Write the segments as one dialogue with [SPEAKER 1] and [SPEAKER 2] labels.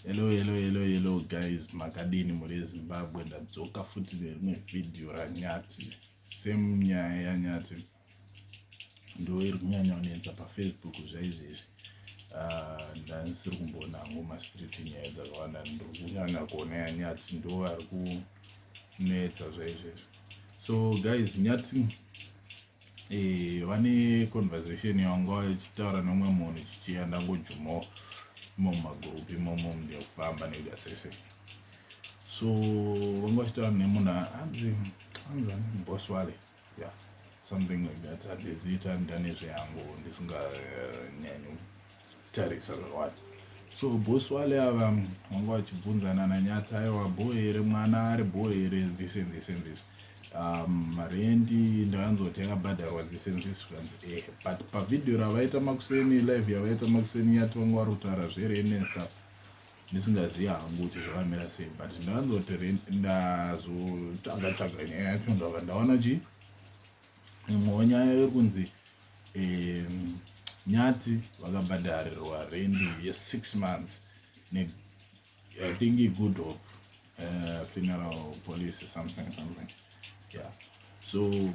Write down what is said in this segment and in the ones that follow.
[SPEAKER 1] hello hello hello hello guys makadini mhuri yezimbabwe ndadzoka futi nerimwe vhidhiyo ranyati same nyaya yanyati ndo iri kunyanya kunetsa pafacebook zvaizvezvi ah, ndandisiri kumboona hangu mastreet nyaya dzakawanda ndiri kunyanya kuona yanyati ndo ari kunetsa zvaizvezvi so guys nyati eh, vane conversation yanga vachitaura nomwe munhu chichiya ndangojumawo imo mumagurupu imomo mndia kufamba nekuda sese so vanga vachitaura nemunhu anzi anzi boss wale yeah something like that handizita ndanezve yangu ndisinganyanyi eh, uh, tarisa zvawani so boss wale ava mm, vanga vachibvunzana nanyati aiwa bho here mwana ari bho here this and this and this um, rendi ndakanzoti yakabhadharwa this and this zvikanzi ehe but pavhidhiyo ravaita makuseni live yavaita makuseni nyati vanga vari kutaura zvereni and stuff ndisingazivi hangu kuti zvakamira sei but ndakanzoti ndazotsvaga tsvaga nyaya yacho ndava ndaona chii imwewo nyaya yekunzi um, nyati vakabhadharirwa rendi yesix months ne i think igood hope uh, funeral policy something something yeah so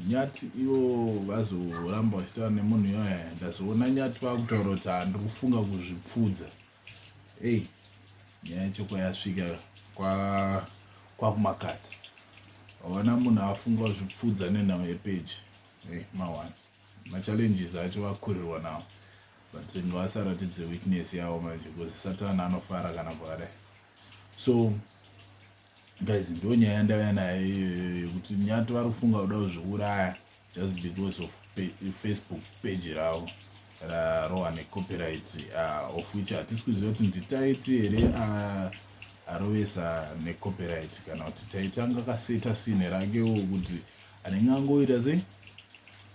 [SPEAKER 1] nyati ivo vazoramba vachitaura nemunhu iyoya ndazoona nyati vakutaura kuti handiri kufunga kuzvipfudza Hey, nyaya yacho kwayasvika kwakumakati kwa haona munhu afunga zvipfudza nenhau yepeji hey, mawana machallenges acho vakurirwa nawo but ngawasaratidze weakness yawo manje because satani anofara kana pakadai so Guys ndonyaya yandauya nayo iyoyo yekuti nyati vari kufunga kuda kuzviuraya just because of Facebook page ravo rarowa necopyright uh, of which hatisi kuziva kuti nditaiti here uh, arovesa necopyright kana kuti taiti anga kaseta sine rakewo kuti anenge angoita sei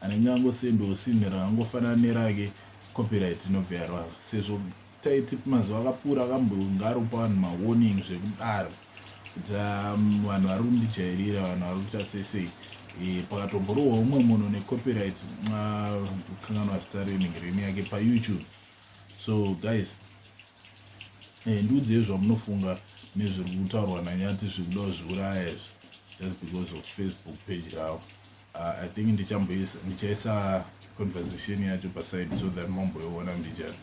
[SPEAKER 1] anenge angosendawo sine raangofanana nerake copyright inobva yarova sezvo Taiti mazuva akapfuura akambonge aropa vanhu mawarning zvekudaro kuti um, vanhu vari kundijairira vanhu vari kuita sesei eh, pakatomborohwa umwe munhu necopyright kanganwa zita renenge reni yake payoutube so guys eh, ndiudzei zvamunofunga nezviri kutaurwa nanyati zviri kuda kuzviuraya izvi just because of facebook page ravo Uh, I think ndichamboisa ndichaisa conversation yacho paside so that momboiona ndicha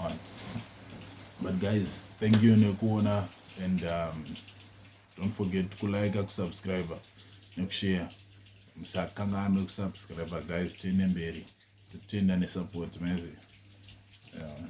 [SPEAKER 1] on but guys thank you nekuona and um, don't forget kulike kusubscribe nekushare musakanganwe kusubscribe guys tiende mberi totenda nesupport mezi yeah.